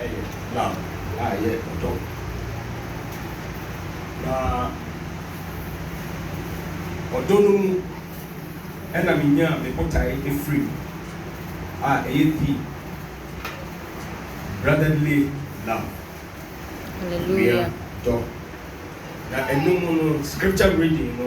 yɛ lamb a ɛyɛ ɔdɔ na ɔdɔ no mu na menyaa me botae afiri mu a ɛyɛ pii, brotherly love, nua dɔ, na ɛno mu no scripture reading no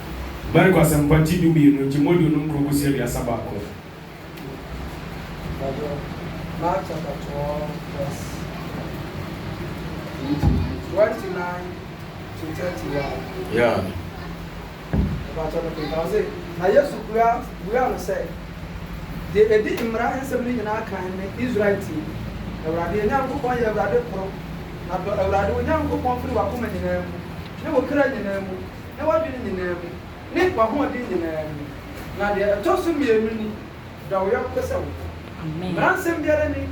Marko Asɛmpa ti dumienu, nkyemu aduonu nkron kosi aduasa baako. Mpakyɛw, Mark chapter twelve verse twenty nine to thirty one. Yeah. Mpakyɛw no kenkan ɔse, Na Yesu bua buaa no sɛ, Deɛ ɛdi mmara nsɛm no nyinaa kan ne, Israel tie, Awurade yɛn Nyankopɔn yɛ Awurade koro, na dɔ Awurade wo Nyankopɔn firi w'akoma nyinaa mu, ne wo kra nyinaa mu, ne w'adwene nyinaa mu, ne w'ahoɔden nyinaa mu. Na deɛ ɛtɔ so mmienu ni, Dɔ wo yɔnko sɛ wo ho. Mmaransɛm biara nni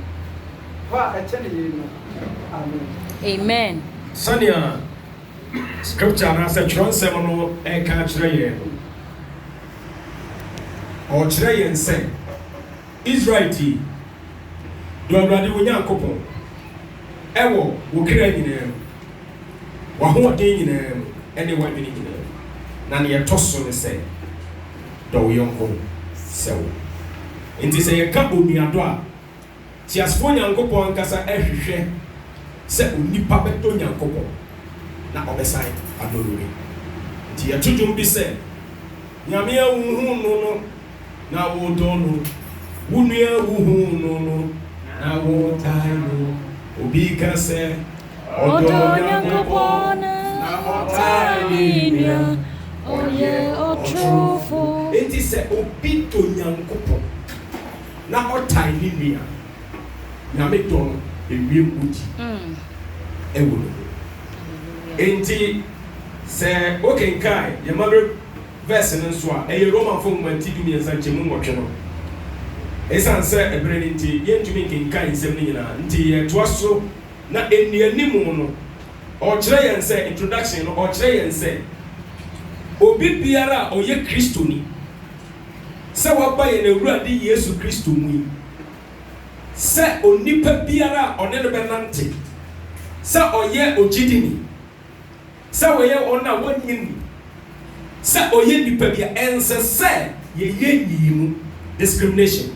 hɔ a ɛkyɛne yeinom. Amen. Sɛnea Scripture anaasɛ Twerɛnsɛm no reka akyerɛ yɛn no, ɔrekyerɛ yɛn sɛ, Israel tie, dɔ Awurade wo Nyankopɔn wɔ wo kra nyinaa mu. w'ahoɔden nyinaa mu ne w'adwene nyinaa mu, na nea ɛtɔ so ne sɛ, dɔ wo yɔnko sɛ wo. Enti sɛ yɛka onuadɔ a, teasefo Nyankopɔn ankasa hwehwɛ sɛ onipa bɛdɔ Nyankopɔn na ɔbɛsan adɔ no bi. Enti yɛto dwom bi sɛ, Nyame a wuhuu no no na wodɔ no, wo nua a wuhuu no no na wokae no, obi ka sɛ, Ɔdɔ Nyankopɔn na ɔtaa ne nua, ɔyɛ ɔtorofo. Enti sɛ obi dɔ Nyankopɔn na ɔtan ne nua a, Nyame dɔ no bewie mudi wɔ ne mu. Enti sɛ wokenkan yɛn mabere vɛɛse no nso a, ɛyɛ Romafo nwoma ti dumiɛnsa nkyɛmu nwɔtwe no. Esiane sɛ bere no nti, yɛrentumi nkenkan nsɛm no nyinaa nti, yɛtoa so Na nnianim no, ɔrekyerɛ yɛn sɛ, introduction no, ɔrekyerɛ yɛn sɛ, obi biara a ɔyɛ Kristoni, sɛ waba yɛn Awurade Yesu Kristo mu yi, sɛ onipa biara a ɔne no bɛnante, sɛ ɔyɛ ogyidini, sɛ wɔyɛ wɔn a wonnye nni sɛ ɔyɛ nnipa bi a, ɛnsɛ sɛ yɛyɛ nyiyimu, discrimination.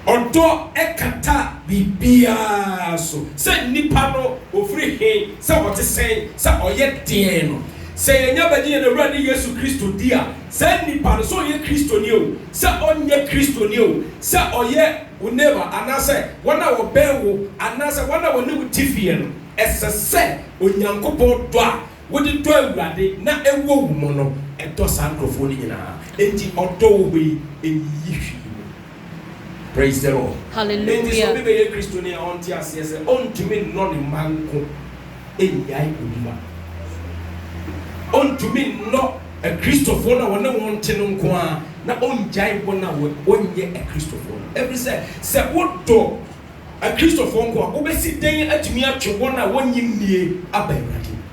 Ɔdɔ kata biribiara so, sɛ nipa no ɔfiri he, sɛ ɔte sɛn, sɛ ɔyɛ deɛn no. Sɛ yɛnya bɛgye yɛn Awurade Yesu Kristo di a, saa nipa no, sɛ ɔyɛ Kristoni o, sɛ ɔnyɛ Kristoni o, sɛ ɔyɛ wo neighbour anaasɛ wɔn a wɔbɛn wo anaasɛ wɔn a wɔne wo te fie no, Ɛsɛ sɛ Onyankopɔn dɔ a wode dɔ Awurade na ɛwɔ wo mu no dɔ saa nkurɔfoɔ no nyinaa. Enti ɔdɔ wɔ hɔ yi nyiyi hwee mu. Praise the Lord. Enti sɛ obi bɛyɛ Kristoni a ɔnte aseɛ sɛ ɔntumi nnɔ ne mma nko nnyae obi ma. Ɔntumi nnɔ Akristofoɔ no a ɔne wɔn te no nko ara na ɔngyae wɔn a wɔnyɛ Akristofoɔ no. Ɛfiri sɛ, sɛ wodɔ Akristofoɔ nko a, wobɛsi dɛn atumi atwe wɔn a wɔnnye nnie aba Awurade mu?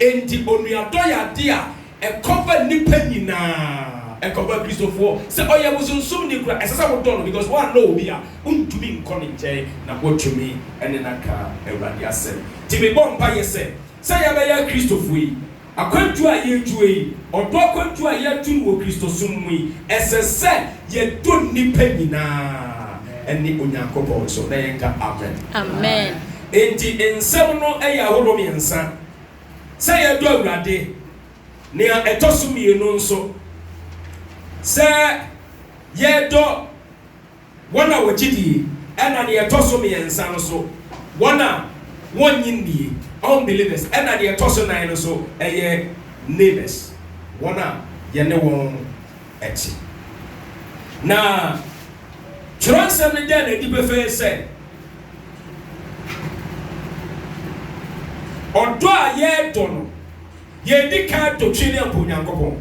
Enti onuadɔ yɛ adeɛ a ɛkɔva nnipa nyinaa, ɛkɔva Akristofoɔ. Sɛ ɔyɛ bosonsomni koraa, ɛsɛ sɛ wodɔ no because woannɔ obi a, wontumi nkɔ ne nkyɛn na woatumi ne no aka Awurade asɛm. Nti mebɔ mpaeɛ sɛ, sɛ yɛabɛyɛ Akristofoɔ yi, Akwantu a yɛretu yi, ɔdɔ akwantu a yɛretu no wɔ Kristosom mu yi, ɛsɛ sɛ yɛdɔ nnipa nyinaa, ɛne Onyankopɔn nso. Na yɛnka Amen. Amen. Enti nsɛm no yɛ ahorow mmiɛnsa, sɛ yɛdɔ Awurade, nea ɛtɔ so mmienu nso, sɛ yɛdɔ Wɔn a wɔgye die, ɛna deɛ ɛtɔ so mmiɛnsa no so, wɔn a wɔnnye nnie, unbelievers, ɛna deɛ ɛtɔ so nan no so ɛyɛ neighbours, wɔn a yɛne wɔn te. Na twerɛnsɛm no da no adi pefee sɛ, ɔdɔ a yɛdɔ no, yɛn di kan dɔ Twi ne Ampa Onyankopɔn.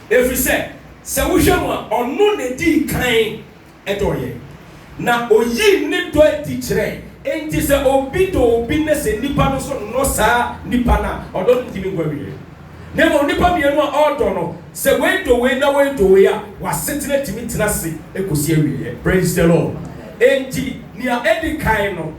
Ɛfiri sɛ, sɛ wohwɛ mu a, ɔno na ɛdii kan dɔɔ yɛn, na ɔyii ne dɔ adi kyerɛɛ. Enti sɛ obi dɔ obi na sɛ nnipa no nso nnɔ saa nipa no a, ɔdɔ no ntumi nkɔ awieɛ. Na mmom nnipa mmienu a ɔredɔ no, sɛ wei dɔ wei na wei dɔ wei a, wɔn asetena tumi tena ase kɔsi awieɛ. Praise the Lord. Enti nea ɛdi kan no,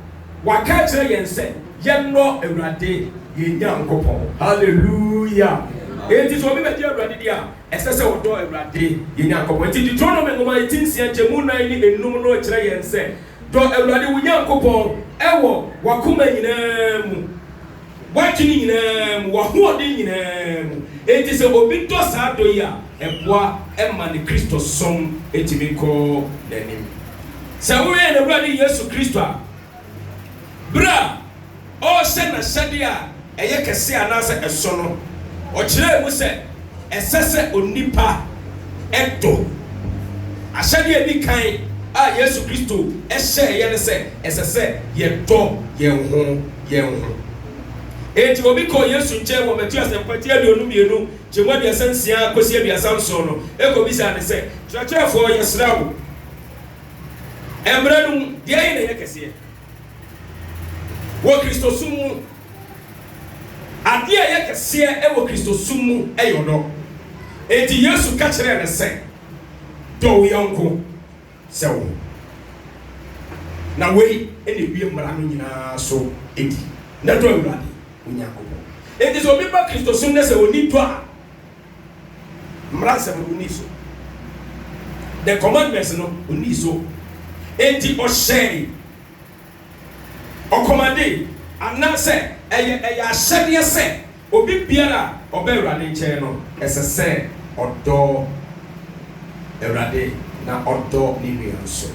Waka akyerɛ yɛn sɛ yɛnnɔ Awurade yɛn Nyankopɔn. Hallelujah! Enti sɛ obi bɛgye Awurade di a, ɛsɛ sɛ ɔdɔ Awurade yɛn Nyankopɔn. Enti Deuteronomy nwoma a eti nsia nkyɛmu nnan ne enum no kyerɛ yɛn sɛ, Dɔ Awurade wo Nyankopɔn wɔ w'akoma nyinaa mu, W'adwene nyinaa mu, w'ahoɔden nyinaa mu. Enti sɛ obi dɔ saa dɔ yi a, ɛboa ma ne Kristosom tumi kɔ n'anim. Sɛ woyɛ yɛn Awurade Yesu Kristo a, bere a ɔrehyɛ n'ahyɛde a ɛyɛ kɛse anaasɛ ɛso no, ɔkyerɛɛ mu sɛ ɛsɛ sɛ onipa dɔ. Ahyɛde a edi kan a Yesu Kristo hyɛeɛ ne sɛ ɛsɛ sɛ yɛdɔ yɛn ho. yɛn ho. Enti obi kɔɔ Yesu nkyɛn wɔ Mateo Asɛmpati aduonu mmienu gye mu aduasa nsia kɔsi aduasa nson no kɔbisaa no sɛ, Kyerɛkyerɛfoɔ, yɛsrɛ wo, Mmara no mu, deɛ ahe na ɛyɛ kɛseɛ wɔ Kristosom mu? Adeɛ a ɛyɛ kɛseɛ wɔ Kristosom mu yɛ ɔdɔ. Enti Yesu ka kyerɛɛ no sɛ, Dɔ wo yɔnko. sɛ wo ho. Na wei na ewie mmara no nyinaa so di, na dɔ Awurade wo Nyankopɔn. Enti sɛ obi ba Kristo som na sɛ onni dɔ a, mmara nsɛm no onnii so, the commandments no onnii so, enti ɔhyɛe, ɔkɔmadee, anaasɛ ɛyɛ ɛyɛ ahyɛdeɛ sɛ Obi biara a ɔba Awurade nkyɛn no, ɛsɛ sɛ ɔdɔ Awurade na ɔdɔ ne nua nso.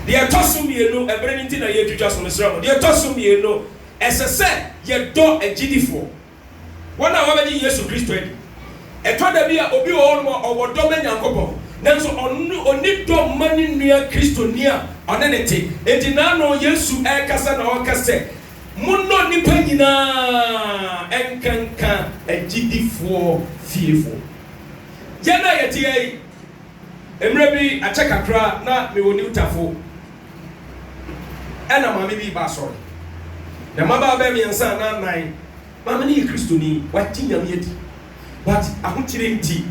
Deɛ ɛtɔ so mmienu, ɛberɛ no nti na yɛretwitwa so, mesrɛ mo, deɛ ɛtɔ so mmienu, ɛsɛ sɛ yɛdɔ agyidifoɔ, wɔn a wɔabɛgye Yesu Kristo adi. Ɛtɔ da bi a, obi wɔ hɔnom a ɔwɔ dɔ ma Nyankopɔn, nanso ɔno, ɔnni dɔ mma ne nua Kristoni a ɔne no te. Enti n'ano, Yesu rekasa na ɔreka sɛ, Monnɔ nnipa nyinaa, ɛnkanka agyidifoɔ fiefo. Yɛn a yɛte ha yi, mmerɛ bi akyɛ kakra na mewɔ New Tafo, ɛna maame bi reba asɔre. Na mmabaa bɛyɛ mmiɛnsa anaa nnan, maame no yɛ Kristoni, wagye Nyame adi. but ahokyere nti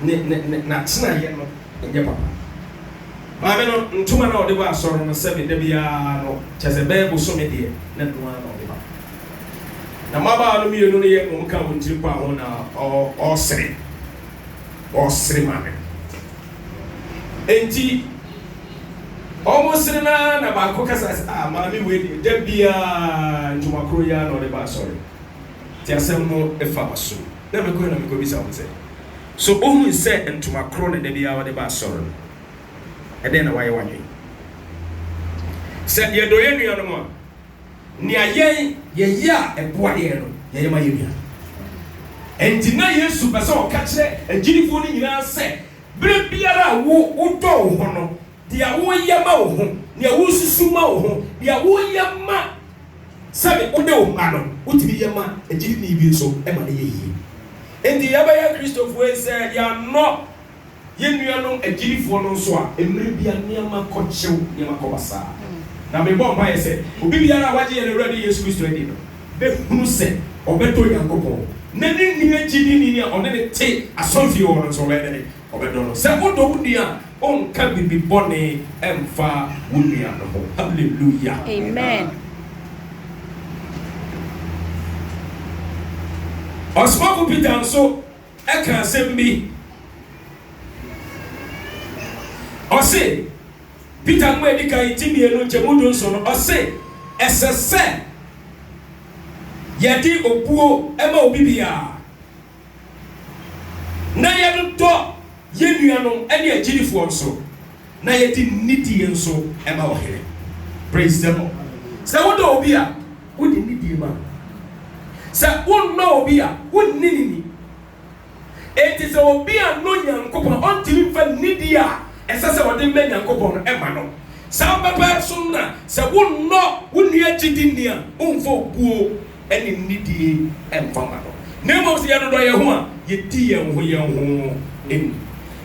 ne ne n'atenaeɛ no nyɛ papa. Maame no ntoma no a ɔde ba asɔre no sɛbe da biara no kyerɛ sɛ bɛyɛ bosome deɛ na ɛno ara na ɔde ba. Na mmabaawa no mmienu no yɛ wɔn ka wɔn tiri mpa ho na ɔresere ɔresere maame no. Enti wɔresere no ara na baako kasa sɛ ah maame wei deɛ da biara ntoma koro yi ara na ɔde ba asɔre. Nti asɛm no fa w'aso mu. Na mekɔ hɔ na mekɔ bisa wɔn sɛ, So wohui sɛ ntoma koro na da biara wɔde ba asɔre no? Ɛdɛn na woayɛ w'adwene? Sɛ yɛdɔ yɛn nuanom a, nea yɛn yɛyɛ a ɛboa yɛn no, yɛyɛ ma yɛn nuanom. Ɛnti na Yesu pɛ sɛ ɔka kyerɛ agyidifoɔ no nyinaa sɛ, berɛ biara a wo wodɔ wo ho no, deɛ woyɛ ma wo ho, nea wosusu ma wo ho, nea woyɛ ma. Sɛdeɛ wode wo mma no, wotumi yɛ ma agyidini bi nso ma no yɛ yie. Enti yɛbɛyɛ Akristofoɔ yi sɛ yɛannɔ yɛn nuanom agyidifoɔ no nso a, mmerɛ bi a nneɛma kɔ kyew, nneɛma kɔ basaa. Na mebɔ mpaeɛ sɛ obi biara a wagye yɛn Awurade Yesu Kristo adi no bɛhunu sɛ ɔbɛdɔ Onyankopɔn na ne nua gyidini a ɔne no te asɔrefie hɔ no nso ɔbɛdɔ ne Ɔbɛdɔ no. Sɛ wodɔ wo nua a, wonka biribi bɔne mfa wo nua no ho. Hallelujah. Amen. Ɔsomafo Peter nso ka asɛm bi. Ɔse, Peter nwoma a edi kan ti mmienu nkyɛmu du nson no, ɔse, Ɛsɛ sɛ yɛde obuo ma obi biara, na yɛdodɔ yɛn nuanom ne agyidifoɔ nso, na yɛde nidie nso ma Ɔhene. Praise the Lord. Sɛ wodɔ obi a, wode nidie ma no. Sɛ wonnɔ obi a, wonni no ni. Enti sɛ obi annɔ Nyankopɔn a, ɔntumi mfa nidie a ɛsɛ sɛ ɔde ma Nyankopɔn no mma no. Saa ara pɛpɛɛpɛ nso na sɛ wonnɔ wo nua gyidini a, womfa obuo ne nnidie mfa mma no, na mmom sɛ yɛdodɔ yɛn ho a, yɛdi yɛn ho yɛn ho ni.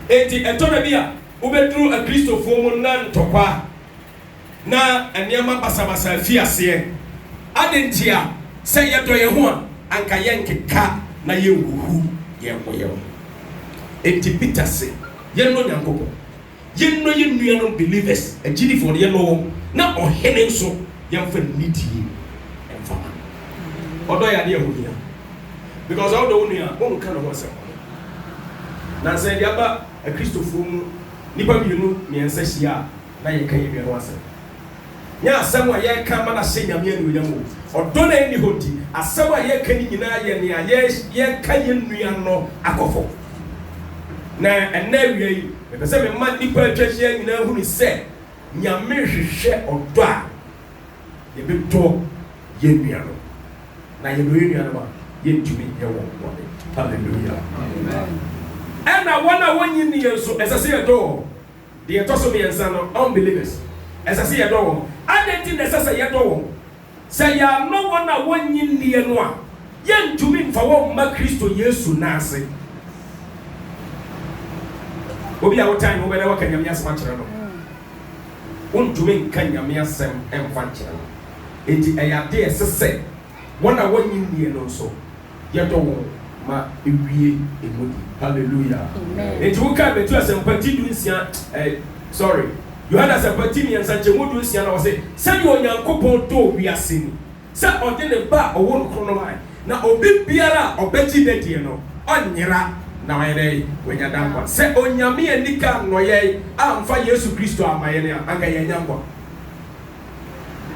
Enti ɛtɔ da bi a, wobɛduru Akristofoɔ mu na ntɔkwa na nneɛma basabasa afi aseɛ. Adɛn ntia? Sɛ yɛdɔ yɛn ho a, anka yɛrenkeka na yɛrenhuhu yɛn ho yɛn ho. Enti Peter se, Yɛnnɔ Nyankopɔn. Yɛnnɔ yɛn nuanom believers, agyidifo, no, yɛnnɔ wɔn, na Ɔhene nso, yɛmfa nidie mfa ma no. Ɔdɔ yɛ adeɛ a ɛho hia, because wodɔ wo nua a, worenka ne ho asɛm bɔne. Nansa yi, deɛ aba Akristofoɔ mu, nnipa mmienu, mmiɛnsa hyia a, na yɛka yɛn nua no ho asɛm. Nyɛ asɛm a yɛreka ma no ahyɛ Nyame anuonyam o, ɔdɔ no a ɛnni hɔ nti, asɛm a yɛreka no nyinaa yɛ nea yɛreka yɛn nua no akɔ fam. Na ɛnnɛ awia yi, mepɛ sɛ mema nnipa a atwa ahyia nyinaa hunu sɛ Nyame hwehwɛ ɔdɔ a yɛbɛdɔ yɛn nuanom. Na yɛdɔ yɛn nuanom a, yɛntumi nyɛ wɔn bɔne. Hallelujah! Ɛnna wɔn a wɔnnye nni yɛn nso, ɛsɛ sɛ yɛdɔ wɔn. Deɛ ɛtɔ so mmiɛnsa no, unbelievers, ɛsɛ sɛ yɛdɔ wɔn. Adɛn nti na ɛsɛ sɛ yɛdɔ wɔn? Sɛ yɛannɔ wɔn a wɔnnye nnie no a, yɛrentumi mfa wɔn mma Kristo Yesu nan ase. Obi a wotan no, wobɛ dɛn woaka Nyame asɛm akyerɛ no? Wontumi nka Nyame asɛm mfa nkyerɛ no. Enti ɛyɛ adeɛ a ɛsɛ sɛ wɔn a wɔnnye nnie no nso, Yɛdɔ wo ma ewie emudi. Hallelujah. Enti wo kae bɛtu asɛmpa ti du nsia eh sorry Yohane asɛmpa ti miensa nkyɛmu du nsia na wɔ se, Sɛdeɛ Onyankopɔn dɔɔ wiase ni, sɛ ɔde ne Ba a ɔwɔ no koro no mae, na obi biara a ɔbɛgye no adie no, ɔnyera, na wayɛ dɛn? Wanya daa nkwa. Sɛ Onyame anni kan nnɔyɛe amfa Yesu Kristo amma yɛn a, anka yɛannya nkwa.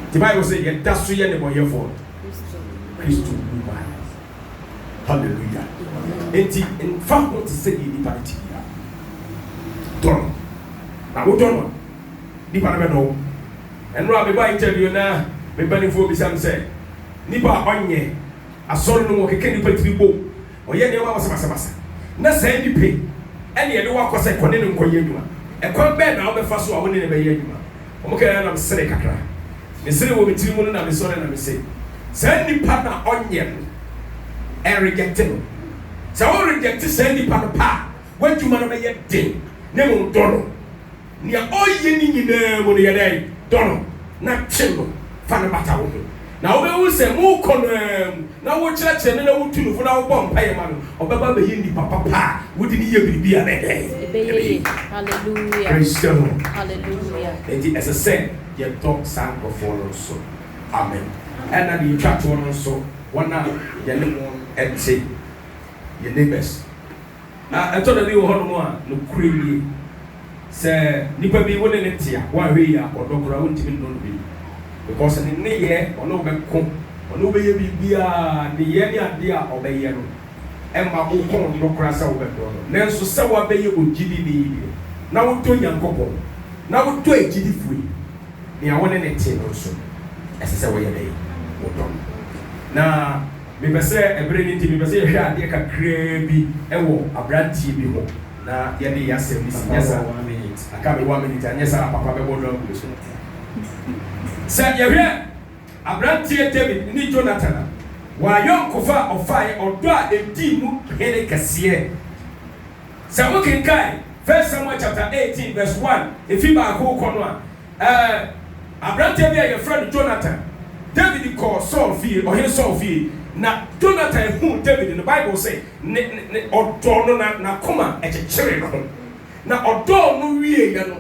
Nti Bible sɛ yɛda so yɛ nnebɔnyɛfoɔ no, Kristo wu maa yɛn. Hallelujah. Nti nfa ho te sɛ deɛ nipa no te biara. Dɔ no. Na wodɔ no a, nipa no bɛdɔ wo. Ɛno a mebɔ interview na me mpaninfoɔ bisa me sɛ, nipa a ɔnyɛ asɔre no mu ɔkeka nipa tiri bom Ɔyɛ nneɛma basabasabasa. Ná saa nnipa yi na yɛde wɔn akɔ sɛ kɔ ne no nkɔyɛ adwuma. Ɛkwan bɛn na wobɛfa so a wo ne no bɛyɛ adwuma? Wɔkae ara na meseree kakra. Meseree wɔ me tiri mu no na mesɔre na mise, Saa nipa no a ɔnyɛ no, ɛregyɛkte no. Sɛ woregyɛkte saa nipa no pɛ a, w'adwuma no bɛyɛ den, na mmom dɔ no. Nea ɔyɛ ne nyinaa mu no, yɛ dɛn? Dɔ no na kyen no. Fa no bata wo ho, na wobɛhu sɛ mokɔ no ara mu na wokyerɛkyerɛ no na wotu no fo na wobɔ mpaeɛ ma no, ɔbɛba abɛyɛ nnipa papa a wode no yɛ biribi a ɛbɛyɛ dɛn? Ɛbɛyɛ yie. Praise the Lord. Enti ɛsɛ sɛ yɛdɔ saa nkorɔfoɔ no nso. Amen. Ɛna deɛ ɛtwa toɔ no nso, wɔn a yɛne wɔn te, yɛn neighbours, Na ɛtɔ da bi wɔ hɔnom a, nokorɛ nie, sɛ nipa bi wo ne no te a, woanhwɛ yie a, ɔdɔ koraa wontumi nnɔ no bi, because ne nneyɛɛ, ɔne wo bɛko, ɔne wo bɛyɛ biribiara, nneyɛɛ ne adeɛ a ɔbɛyɛ no mma wo kɔn nnɔ koraa sɛ wobɛdɔ no. Nanso sɛ woabɛyɛ ogyidini deɛ, na wodɔ Nyankopɔn, na wodɔ agyidifoɔ yi, nea wo ne no te no nso, ɛsɛ sɛ woyɛ dɛn? Wodɔ no. Na. Mepɛ sɛ ɛbere no nti mepɛ sɛ yɛhwɛ adeɛ kakraa bi wɔ abranteɛ bi ho na yɛde yɛ asɛm no si, nyɛ saa a aka me one minute a nyɛ saa a papa bɛbɔ no agu me so. Sɛ yɛhwɛ abranteɛ David ne Jonathan a, wɔn ayɔnkofa a ɔfaeɛ, ɔdɔ a ɛdii mu hene kɛseɛ. Sɛ wokenkan First Samuel chapter eighteen verse one, ɛfiri baako rekɔ no a, Ɛɛ, aberanteɛ bi a wɔfrɛ no Jonathan. Dawid kɔɔ Saul fie, Ɔhene Saul fie, na Jonathan huu Dawid no, Bible se, ne, ne, ne, ɔdɔɔ no na n'akoma kyekyeree ne ho. Na ɔdɔɔ no wieeɛ no,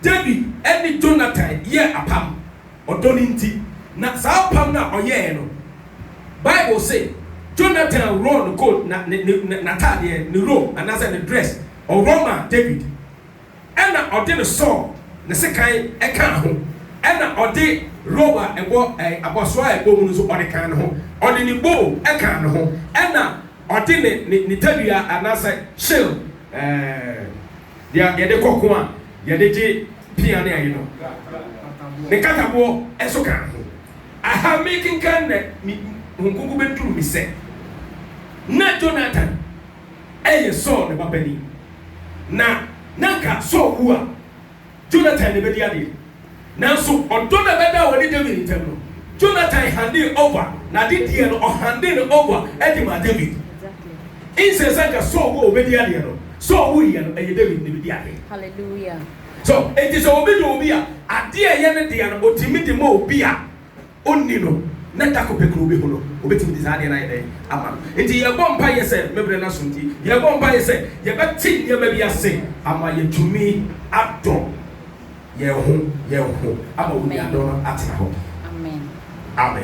Dawid ne Jonathan yɛɛ apam, ɔdɔ no nti. Na saa apam no a ɔyɛeɛ no, Bible se, Jonathan worɔɔ ne coat, na, ne, ne, ne, n'ataadeɛ, ne robe, anaasɛ ne dress, ɔworɔ maa Dawid. Ɛna ɔde ne sɔɔ ne sekan kaa ho, ɛna ɔde rob a ɛbɔ ɛɛ abɔsoɔ a ɛbɔ mu no nso ɔde kaa ne ho, ɔde ne bow kaa ne ho, ɛna ɔde ne ne ne tadua anaasɛ shield ɛɛ deɛ a yɛde kɔ ko a yɛde gye pea ne ayi no, ne nkataboɔ nso kaa ne ho. Aha merekenkan na me ho nkonko bɛduru me sɛ na Jonatan. yɛ Saul ne ba panin, na na anka Saul wu a, Jonathan na ɛbɛdi adeɛ. Nanso ɔdɔ no a ɛbɛdaa wɔne David ntam no, Jonathan handee over, na ade deɛ no, ɔhandee no over de maa David. Nse sɛ anka Saul wu a ɔbɛdi adeɛ no, Saul wuiɛ no, ɛyɛ David na ɛbɛdi adeɛ. Hallelujah. So, enti sɛ obi dɔ obi a, adeɛ a ɛyɛ ne dea no, ɔtumi de ma obi a, ɔnni no na da koro pɛ kura ɔbɛhu no, ɔbɛtumi de saa adeɛ no ayɛ dɛn ama no? Nti yɛrebɔ mpaeɛ sɛ, me berɛ no aso nti, yɛrebɔ mpaeɛ sɛ yɛbɛte nneɛma bi ase ama yɛatumi adɔ yɛn ho yɛn ho ama onuadɔ no atena hɔ. Amen.